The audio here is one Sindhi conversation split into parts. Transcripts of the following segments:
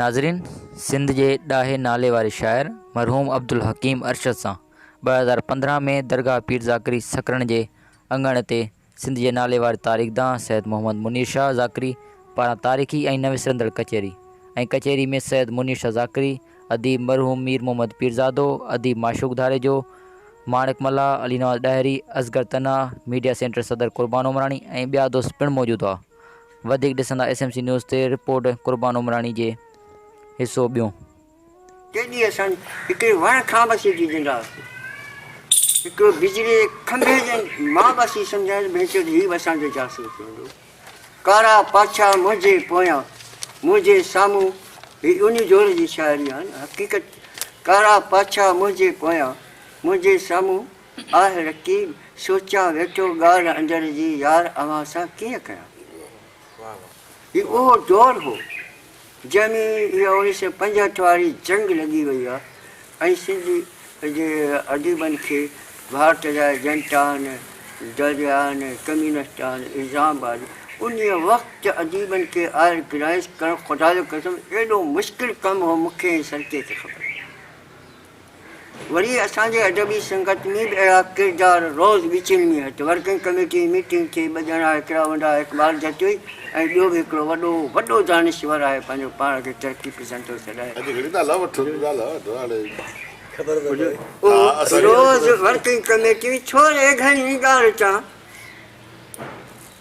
ناظرين سنڌ جي ڏاهي نالي واري شاعر مرحوم عبدالحڪيم ارشد سان ٻه هزار پندرهن ۾ درگاهه پير ذاڪري سڪرڻ جي اڱڻ تي سنڌ جي ناليوار تاريخدان سيد محمد منير شاهه ذاڪري پاران تاريخي ۽ نه وسرندڙ ڪچهري ۽ ڪچهري ۾ سيد منير شاهه ذاڪري، اديب مرحوم مير محمد پيرزادو، اديب معشوق ڌاريجو، ماڻڪ ملاح، علي نواز ڏاهري، اصغر تنها، ميڊيا سينٽر صدر قربان عمراڻي ۽ ٻيا دوست پڻ موجود هئا. وڌيڪ ڏسندا ايس ايم سي نيوز تي رپورٽ قربان عمراڻي جي حصو ٻيون. ڪي ڏينهن اسان هڪڙي وڻ کان به سيٽي ڏيندا هئاسين. هڪڙو بجلي جي کنڀي جي مان به اسين سمجهايو ته ڀينچو ته هي به اسان جو جاسوس هوندو. ڪارا پاڇا منهنجي پويان، منهنجي سامهون هي اونيو جوڙ جي شاعري آهي نه حقيقت ڪارا پاڇا منهنجي پويان، منهنجي سامهون آهه رقيب سوچان ويٺو ڳالهه اندر جي يار اوهان سان ڪيئن ڪيان. هي اهو دور هو. جنهن ۾ اها اڻيهه سؤ پنجهٺ واري جنگ لڳي وئي هئا ۽ سنڌ جي اديبن کي ڀارت جا ايجنٽ آهن، دريا آهن، ڪميونسٽ آهن، الزام آهن. انهيء وقت اديبن کي آئر گرائيس ڪرڻ خدا جو قسم ايڏو مشڪل ڪم هو، مون کي ۽ سرڪي کي خبر. وري اسان جي ادبي سنگت ۾ به اهڙا ڪردار روز وچين ۾ هت ورڪنگ ڪميٽي جي ميٽنگ ٿئي ٻه ڄڻا هڪڙا هوندا آهي اقبال جتوئي ۽ ٻيو به هڪڙو وڏو وڏو دانشور آهي پنهنجو پاڻ کي ترقي پسند ٿو سڏائي اهو روز ورڪنگ ڪميٽي ۾ ڇو رهي گهڻي ڳالهه چان.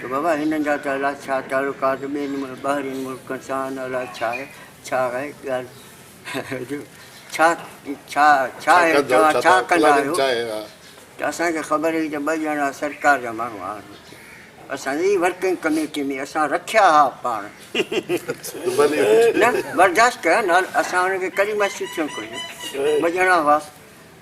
ته بابا هنن جا ته الاء ڇا تعلقات ٻين ٻاهرين ملڪن سان آهن الاء ڇا آهي ڇا آهي ڳالهه ڇا ڇا ڇا آهي توهان ڇا ڪندا آهيو ته اسان کي خبر هئي ته ٻه ڄڻا سرڪار جا ماڻهو آهن اتي اسان جي ورڪنگ ڪميٽي ۾ اسان رکيا ها پاڻ نه برداشت ڪيا نه اسان ان کي ڪڏهن محسوس ٿيڻ گهرجي ٻه ڄڻا هئا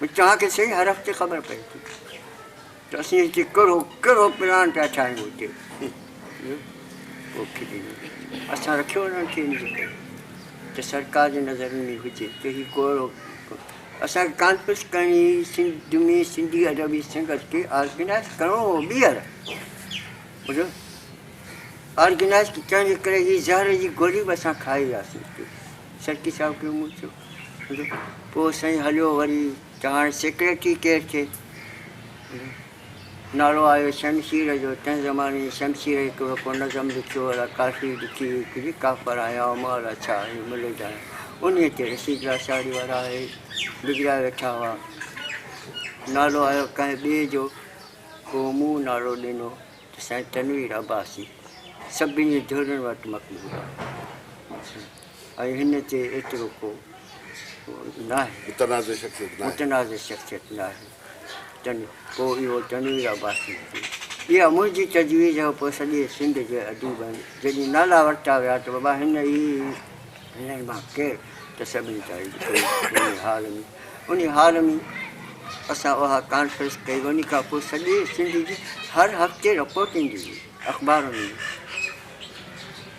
ڀي چاهه کي صحيح هر هفتي خبر پئي ٿي ته اسين هتي ڪهڙو ڪهڙو پلان پيا ٺاهيون هتي اسان رکيو انهن کي ان جي ڪري ته سرڪار جي نظر ۾ هجي ته هي ڪهڙو اسان کي ڪانفرنس ڪرڻي هئي سنڌ ۾ سنڌي ادبي سنگت کي آرگنائز ڪرڻو هو ٻيهر ٻڌو آرگنائز ڪرڻ جي ڪري هي زهر جي گولي به اسان کائي وياسين سرڪي صاحب کي مون چيو پوء سائين هليو وري ته هاڻي سيڪريٽري ڪير ٿئي؟ نالو آيو شمشير جو، تنهن زماني ۾ شمشير هڪڙو ڪو نظم لکيو الا ڪافي لکي هئي هڪڙي، ڪافر آهيان او مولا ڇا آهي ملحد آهيان، انهيء تي رشيد لاشاري وارا اهي بگڙيا ويٺا هئا. نالو آيو ڪنهن ٻئي جو، پوء مون نالو ڏنو ته سائين تنوير عباسي سڀني ڌرين وٽ مقبول آهي. ۽ هن تي ايترو ڪو ناهي. متنازع شخصيت ناهي. متنازع شخصيت ناهي. تن ڪو اهو تنوير عباسي هجي. اها منهنجي تجويز هئ پوء سڄي سنڌ جي اديبن جڏهن نالا ورتا ويا ته بابا هن ئي هنن مان ڪير ته سڀني چاهي جو ڪوئي انهي حال ۾ انهي حال ۾ اسان اها ڪانفرنس ڪئي انهي کان پوء سڄي سنڌ جي هر هفتي رپورٽ ايندي هئي اخبارن ۾.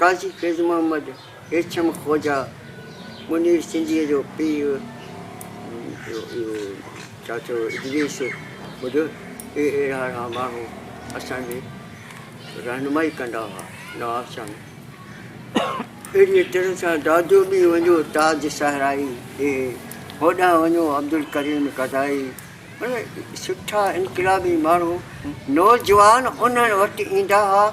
قاضي فيض محمد هيرڇم خوجا منير سنڌيء جو پيء جو اهو چاچو ادريس ٻڌ اهي اهڙا اهڙا ماڻهو اسان جي رهنمائي ڪندا هئا نواب شاهه ۾ اهڙيء طرح سان دادو ڏي وڃو تاج صحرائي اهي هوڏانهن وڃو عبدالڪريم قضائي مطلب سٺا انقلابي ماڻهو نوجوان انهن وٽ ايندا هئا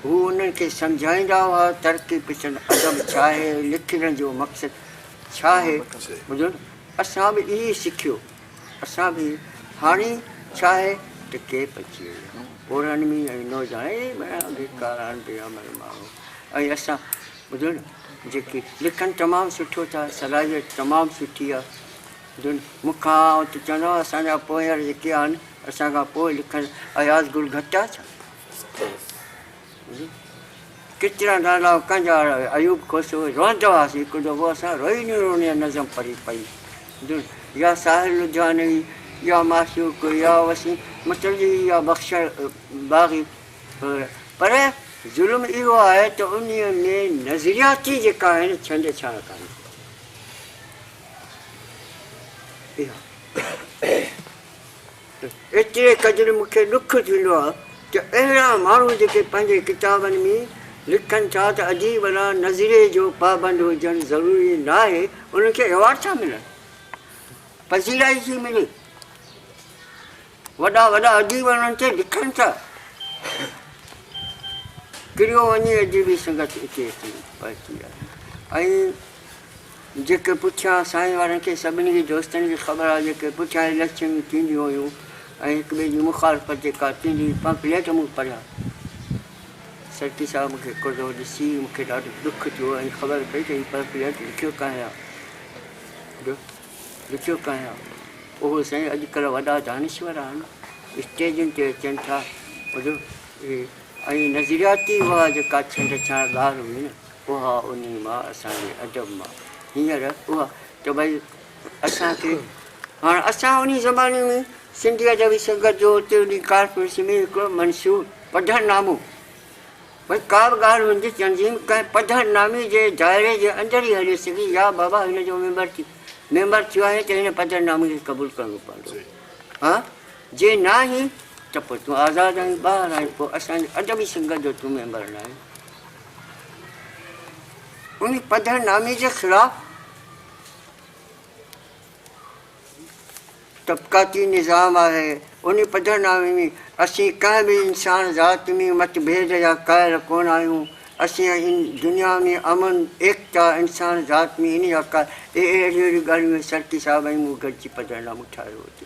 هو انهن کي سمجهائيندا هئا ترقي پسند ادب ڇا آهي، لکڻ جو مقصد ڇا آهي، ٻڌن اسان به اهو ئي سکيو، اسان به هاڻي ڇا آهي ته ڪيپ اچي وئي آهي، پورهن ۾ ۽ نوجوان اهي مهڻا بيڪار آهن بي عمل ماڻهو ۽ اسان ٻڌن جيڪي لکن تمام سٺو ٿا صلاحيت تمام سٺي آهي ٻڌن مون کان آئون ته چوندو آهيان اسان جا پوهيار جيڪي آهن اسان کان پوء لکن اياز گل گهٽ آهي ڇا؟ ڪچرا نالا ڪنجاڙ ايوب خوش هو روئندو آس هڪ دفعو اسان روئي ني روئي نظم پڙهي پئي دل يا ساحل لڌيانوي يا معشوق يا وسيم متلي يا بخشل باغي پر ظلم اهو آهي ته ان ۾ نظرياتي جيڪا آهي نه ڇنڊ ڇاڻ ڪاني اها ايتري قدر مون کي ڏک ٿيندو آهي ته اهڙا ماڻهو جيڪي پنهنجي ڪتابن ۾ لکن ٿا ته اديب لا نظريي جو پابند هجڻ ضروري ناهي انهن کي ايوارڊ ڇا ملڻ پذيرائي ٿي ملي وڏا وڏا اديب انهن تي لکن ٿا ڪريو وڃي اديبي سنگت اتي اچي پهتي آهي ۽ جيڪي پٺيان سائين وارن کي سڀني کي دوستن کي خبر آهي جيڪي پٺيان اليڪشن ۾ ٿينديون هيون ۽ هڪ ٻئي جي مخالفت جيڪا ٿيندي هئي پمفليٽ مون پڙهيا سرڪي صاحب مون کي ڪرڙو ڏسي مون کي ڏاڍو ڏک ٿيو ۽ خبر پئي ته هي پمفليٽ لکيو ڪنهن آهي جو لکيو ڪنهن آهي اهو سائين اڄڪلهه وڏا دانشور آهن اسٽيجن تي اچن ٿا جو ۽ نظرياتي اها جيڪا ڇنڊ ڇاڻ ڳالهه هئي نه اها انهي مان اسان جي ادب مان هينئر اها ته ڀئي اسان کي هاڻ اسان انهي زماني ۾ سنڌي ادبي سنگت جو اتي انهي ڪانفرنس ۾ هڪڙو منشور پڌر نامو ڀئي ڪا به ڳالهه هن جي تنظيم ڪنهن پڌر نامي جي دائري جي اندر ئي هلي سگهي يا بابا هن جو ميمبر ٿي ميمبر ٿيو آهين ته هن پڌر نامي کي قبول ڪرڻو پوندو ها جي ناهين ته پوء تون آزاد آهين ٻاهر آهين پوء اسان جي ادبي سنگت جو تون ميمبر ناهين ان پڌر نامي جي خلاف طبقاتي نظام آهي. ان پڌر نامي ۾ اسين ڪنهن به انسان ذات ۾ متڀيد يا قائل ڪونه آهيون. اسين ان دنيا ۾ امن، ايڪتا، انسان ذات ۾ ان يا قائل اهڙيون اهڙيون ڳالهيون ۽ سرڪي صاحب ۽ مون گڏجي پڌر نامو ٺاهيو هتي.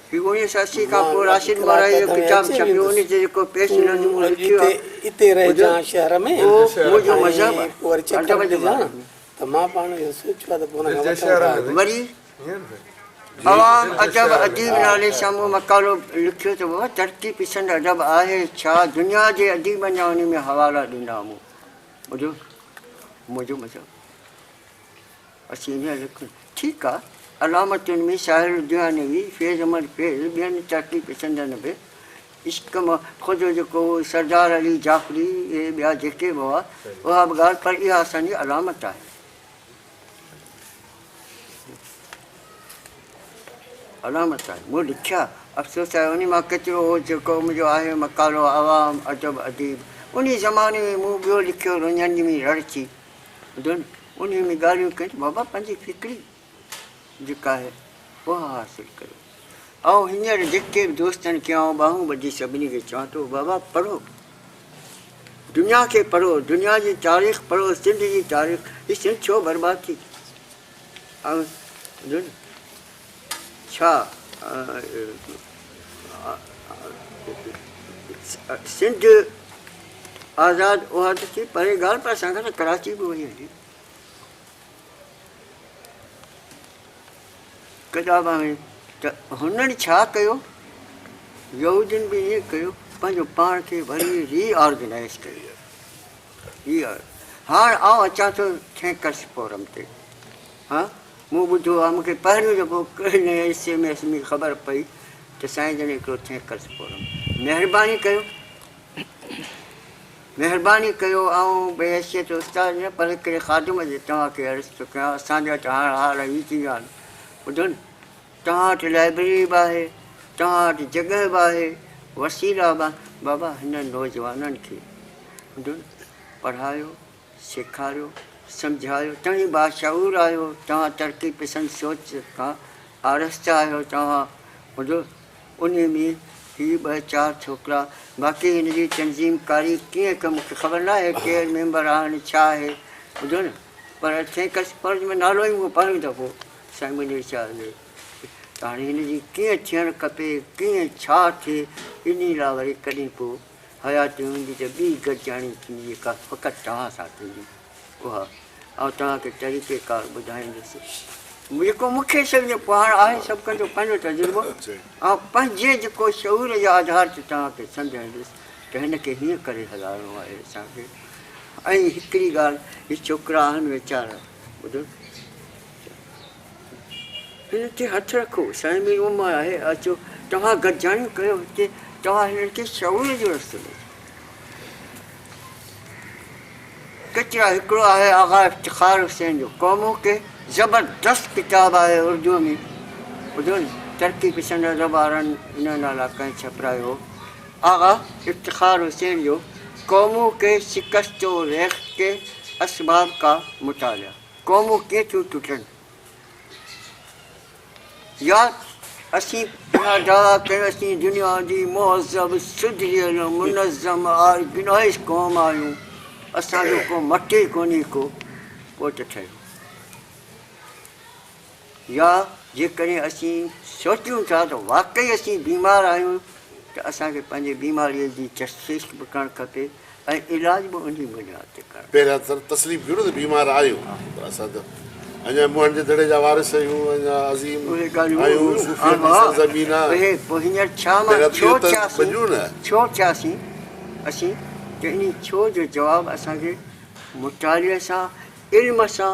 هي اڻيهه سؤ اسي کان پوء راشد مورائيء جو ڪتاب ڇپيو، ان تي جيڪو پيش نظم مون لکيو آهي، اهو منهنجو مذهب ادب جو به آهي. وري عوام ادب اديب نالي سان مون مقالو لکيو ته بابا ترقي پسند ادب آهي ڇا؟ دنيا جي اديبن جا ان ۾ حوالا ڏنا مون. ٻڌو منهنجو مذهب. اسين هينئر لکون. ٺيڪ آ. علامتن ۾ شاعر لڌيانوي، فيض احمد فيض، ٻين ترقي پسندن به عشق مان خوجو جيڪو هو، سردار علي جعفري اهي ٻيا جيڪي به هئا، اها به ڳالهه پر اها اسان جي علامت آهي. علامت آهي. مون لکيا. افسوس آهي انهي مان ڪيترو هو جيڪو منهنجو آهي مقالو عوام، ادب، اديب. انهي زماني ۾ مون ٻيو لکيو رڃڻ جي مين رڙ ٿي. ڏن. انهيء ۾ ڳالهيون ڪيون ته بابا پنهنجي فڪري جيڪا آهي اها حاصل ڪريو. آئون هينئر جيڪي به دوستن کي آئون ٻانهون ٻڌي سڀني کي چوان ٿو بابا پڙهو. دنيا کي پڙهو، دنيا جي تاريخ پڙهو، سنڌ جي تاريخ، هي سنڌ ڇو برباد ٿي. آئون ڏن. ڇا سنڌ آزاد اها ته ٿي پرين ڳالهه پر اسان کان ته ڪراچي به وئي هلي ڪڏابا ۾ ته هنن ڇا ڪيو يهودين به ائين ڪيو پنهنجو پاڻ کي وري ري آرگنائز ڪيو هاڻ آئون اچان ٿو ٿينڪرس فورم تي مون ٻڌو آهي، مون کي پهريون دفعو ڪنهن ايس ايم ايس ۾ خبر پئي ته سائين جن هڪڙو ٿينڪرس فورم مهرباني ڪيو مهرباني ڪيو آئون بحيثيت استاد نه پر هڪڙي خادم جي توهان کي عرض ٿو ڪيان اسان جا ته هاڻ حال هي ٿي ويا آهن ٻڌن توهان وٽ لائبريري به آهي توهان وٽ جڳهه به آهي وسيلا به بابا هنن نوجوانن کي ٻڌن پڙهايو سيکاريو، سمجهايو، توهين باشعور آهيو، توهان ترقي پسند سوچ کان آراسته آهيو، توهان هوندو انهي ۾ هي ٻه چار ڇوڪرا، باقي هن جي تنظيم ڪاري ڪيئن ڪئي مون کي خبر ناهي ڪير ميمبر آهن ڇا آهي ٻڌو نه پر ٿينڪس پر جو نالو ئي مون پهريون دفعو سائين منير شاهه جو ته هاڻي هن جي ڪيئن ٿيڻ کپي ڪيئن ڇا ٿئي انهي لاء وري ڪڏهن ڪو حياتي هوندي ته ٻي گڏجاڻي ٿيندي جيڪا فقط توهان سان ٿيندي اها آئون توهان کي طريقي ڪار ٻڌائيندس جيڪو مون کي سمجهي پوء هاڻ آهي سڀ ڪن جو پنهنجو تجربو آئون پنهنجي جيڪو شعور جي آڌار تي توهان کي سمجهائيندس ته هن کي هيئن ڪري هلائڻو آهي اسان کي ۽ هڪڙي ڳالهه هي ڇوڪرا آهن ويچارا ٻڌو هنن تي هٿ رکو، سائين مير محمد آهي، اچو توهان گڏجاڻيون ڪريو هتي، توهان هنن کي شعور جو رستو ڏيو. ڪچرا هڪڙو آهي آغا افتخار حسين جو قومون ڪي زبردست ڪتاب آهي اردوء ۾ ٻڌو ترقي پسند ادب وارن ان نالا ڪنهن ڇپرايو هو آغا افتخار حسين جو قومون ڪي شڪست و ريخت ڪي اسباب ڪا مطالعا. قومون ڪيئن ٿيون ٽٽن. يا اسين پنهنجا دعويٰ ڪيون اسين دنيا جي مهذب، سڌريل، منظم، آرگنائيز قوم آهيون، اسان جو ڪو مٽ ئي ڪونهي ڪو پوء ته ٺهيو. يا جيڪڏهن اسين سوچيون ٿا ته واقعي اسين بيمار آهيون ته اسان کي پنهنجي بيماريء جي تشخيص به ڪرڻ کپي ۽ علاج به انهي بنياد تي ڪرڻ کپي. پهريان ته تسليم ٿيون نه ته بيمار آهيون پر اسان ته اڃا منهن جي دڙي جا وارث آهيون اڃا عظيم آهيون صوفين جي سرزمين آ پهريان اهو ته مڃون نه. ڇو ٿياسين اسين ته انهي ڇو جو جواب اسان کي مطالعي سان علم سان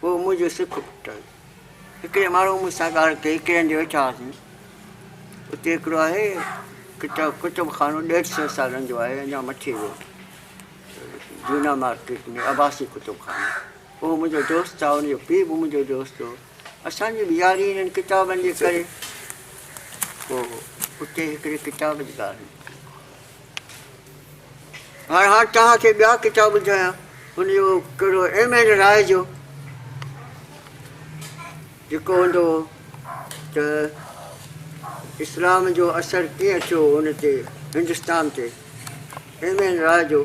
پوء منهنجو سک ڦٽل. هڪڙي ماڻهوء مون سان ڳالهه ڪئي، هڪڙي هنڌ ويٺا هئاسين. اتي هڪڙو آهي ڪتاب ڪتب خانو ڏيڍ سئو سالن جو آهي اڃا مٺي روڊ جونا مارڪيٽ ۾ عباسي ڪتب خانو. اهو منهنجو دوست آهي ان جو پيء به منهنجو دوست هو. اسان جي به ياري انهن ڪتابن جي ڪري. پوء اتي هڪڙي ڪتاب جي ڳالهه نڪتي. هاڻ هاڻ توهان کي ٻيا ڪتاب ٻڌايان ان جو ڪهڙو ايم اين راء جو جيڪو هوندو هو ته اسلام جو اثر ڪيئن ٿيو ان تي هندستان تي ايم اين راء جو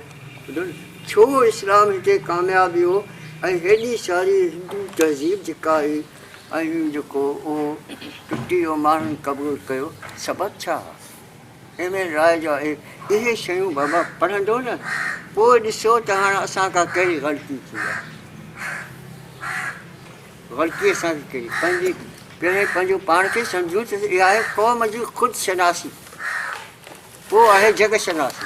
ڇو اسلام هتي ڪامياب ويو ۽ هيڏي ساري هندو تهذيب جيڪا هئي ۽ جيڪو اهو ٽٽي ويو ماڻهن قبول ڪيو سبب ڇا هئا ايمن راء جو آهي اهي شيون بابا پڙهندو نه پوء ڏسو ته هاڻ اسان کان ڪهڙي غلطي ٿي آهي غلطي اسان کي ڪهڙي پنهنجي پهرين پنهنجو پاڻ کي سمجهون ته اها آهي قوم جي خود شناسي پوء آهي جڳ شناسي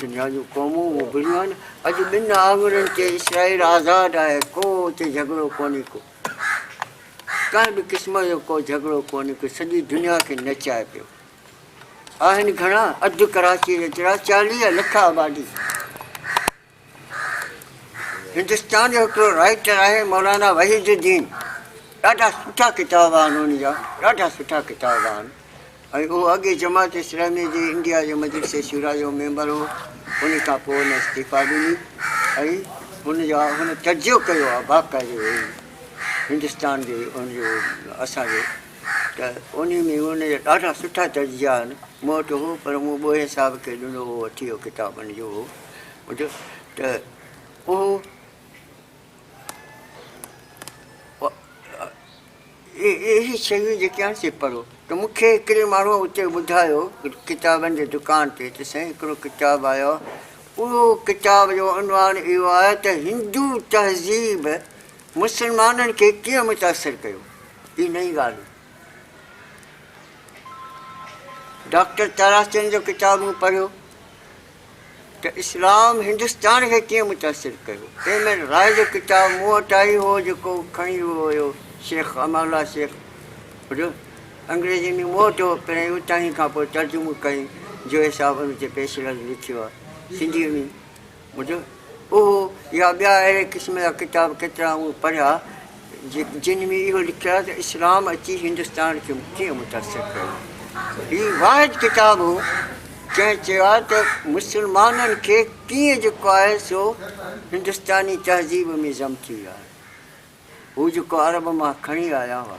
دنيا جون قومون اڀريون آهن، اڄ ٻن آڱرين تي اسرائيل آزاد آهي، ڪو اتي جهڳڙو ڪونهي ڪو ڪنهن به قسم جو ڪو جهڳڙو ڪونهي ڪو سڄي دنيا کي نچائي پيو آهن گهڻا اڌ ڪراچي جيترا چاليهه لک آبادي. هندستان جو هڪڙو رائيٽر آهي مولانا وحيد الدين ڏاڍا سٺا ڪتاب آهن ان جا ڏاڍا سٺا ڪتاب آهن ۽ اهو اڳي جماعت اسلامي جي انڊيا جو مجلس شورا جو ميمبر هو ان کان پوء ان استعفا ڏني ۽ ان جا هن تجزيو ڪيو آهي باقاعدو هندستان جو ان جو اسانجو ته ان ۾ ان جا ڏاڍا سٺا تجزيا آهن مون وٽ هو پر مون ٻوهي صاحب کي ڏنو هو وٺي ويو ڪتاب ان جو هو ٻڌيو ته اهو اهي شيون جيڪي آهن سي پڙهو ته مون کي هڪڙي ماڻهوء اتي ٻڌايو ڪتابن جي دڪان تي ته سائين هڪڙو ڪتاب آيو اهو ڪتاب جو عنوان اهو آهي ته هندو تهذيب مسلمانن کي ڪيئن متاثر ڪيو هي نئين ڳالهه ڊاڪٽر تارا چند جو ڪتاب مون پڙهيو ته اسلام هندستان کي ڪيئن متاثر ڪيو. ايم اين راء جو ڪتاب مون وٽ آئي هو جيڪو کڻي ويو هيو شيخ امان الله شيخ جو انگريزي ۾ مون وٽ هو پهرين اوتانهين کان پوء ترجمو ڪيائين جويي صاحب ان تي پيش رد لکيو آهي سنڌيء ۾ اهو يا ٻيا اهڙي قسم جا ڪتاب ڪيترا مون پڙهيا جن ۾ اهو لکيا ته اسلام اچي هندستان کي ڪيئن متاثر ڪيو. هي واحد ڪتاب هو جنهن چيا ته مسلمانن کي ڪيئن جيڪو آهي سو هندستاني تهذيب ۾ ضم ٿي ويو آهي. هو جيڪو عرب مان کڻي آيا هئا.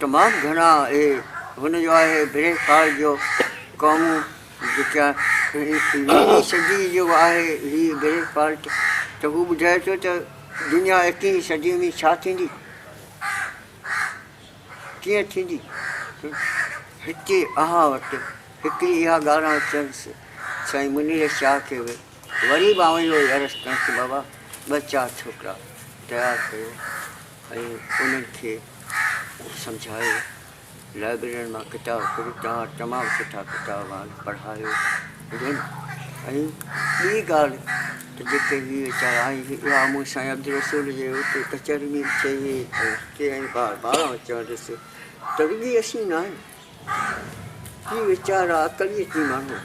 تمام گهڻا اهي هن جو آهي بريڪ فال جو قومون جيڪا ويهين صدي جو آهي هي بريڪ فالٽ ته هو ٻڌائي ٿو ته دنيا ايڪيهين صدي ۾ ڇا ٿيندي ڪيئن ٿيندي هتي اوهان وٽ هڪڙي اها ڳالهه آڻ چيس سائين منير شاهه کي به وري به آئون اهو ئي عرض ڪيانس ته بابا ٻه چار ڇوڪرا تيار ڪيو ۽ انهن کي سمجهايو، لائبررين مان ڪتاب ڪڍ، توهان وٽ تمام سٺا ڪتاب آهن، پڙهايو جن ۽ ٻي ڳالهه ته جيڪي هي ويچارا ۽ اها مون سائين عبدالرسول جي اتي ڪچهري ۾ به چئي هئي ۽ هتي ۽ بار بار آئون چوندس ته رڳي اسين ناهيون هي ويچارا ڪڙيء جي ماڻهو،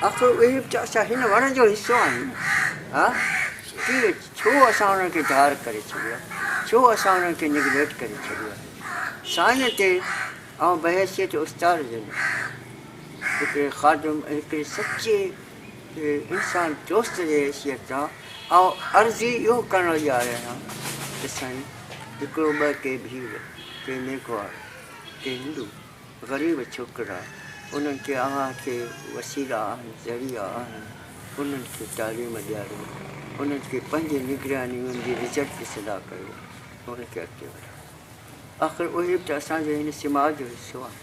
آخر اهي به ته اسان هن وڻ جو حصو آهيون. ها شڪيل، ڇو اسان انهن کي ڌار ڪري ڇڏيو آهي؟ ڇو اسان انهن کي نيگليٽ ڪري ڇڏيو آهي؟ سائين تي آئون بحيثيت استاد جن هڪڙي خادم ۽ هڪڙي سچي انسان دوست جي حيثيت تان آئون عرض ئي اهو ڪرڻ لڳي آيو آهيان ته سائين هڪڙو ٻه ڪي ڀيل ڪي ميگهواڙ ڪي هندو غريب ڇوڪرا انهن کي اها ڪي وسيلا آهن ذريعا آهن انهن کي تعليم ڏياريو انهن کي پنهنجي نگراني ۾ ان جي رزلٽ جي صلاح ڪيو ۽ انهن کي اڳتي وڌايو آخر اهي به ته اسان جي هن سماج جو حصو آهن.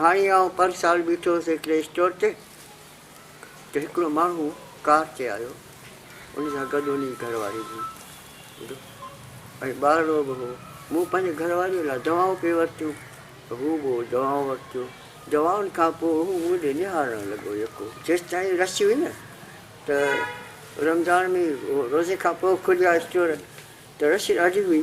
هاڻي آئون پر سال بيٺو هوس هڪڙي اسٽور تي ته هڪڙو ماڻهو ڪار تي آيو ان سان گڏ ان جي گهرواري به هئي ۽ ٻارڙو به هو مون پنهنجي گهرواريء لاء دوائون پي ورتيون ته هو به دوائون ورتيون دوائن کان پوء هو مون ڏي نهارڻ لڳو يڪو جيستائين رش هئي نه ته رمضان ۾ روزي کان پوء کليا اسٽور ته رش ڏاڍي هئي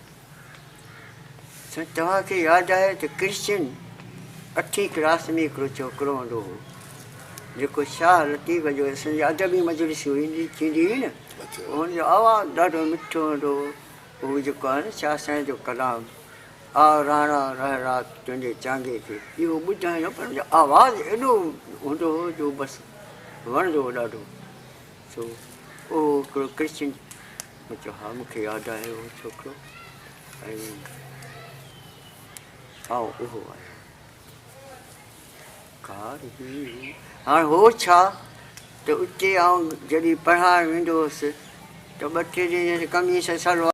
سائين توهان کي ياد آهي ته ڪرشچن اٺين ڪلاس ۾ هڪڙو ڇوڪرو هوندو هو جيڪو شاهه لطيف جو اسان جي ادبي مجلسون هوندي ٿيندي هئي نه ان جو آواز ڏاڍو مٺو هوندو هو هو جيڪو آهي نه شاهه سائين جو ڪلام آ راڻا رهه رات تنهنجي چانگي تي اهو ٻڌائينو پر ان جو آواز ايڏو هوندو هو جو بس وڻندو هو ڏاڍو سو اهو هڪڙو ڪرشچن مون چيو، ها مون کي ياد آهي اهو ڇوڪرو ۽ آئون اهو آهيان. ڪار هئي. هاڻ هو ڇا ته اتي آئون جڏهن پڙهائڻ ويندو هوس ته ٻه ٽي ڏينهن جڏهن قميص سلوار.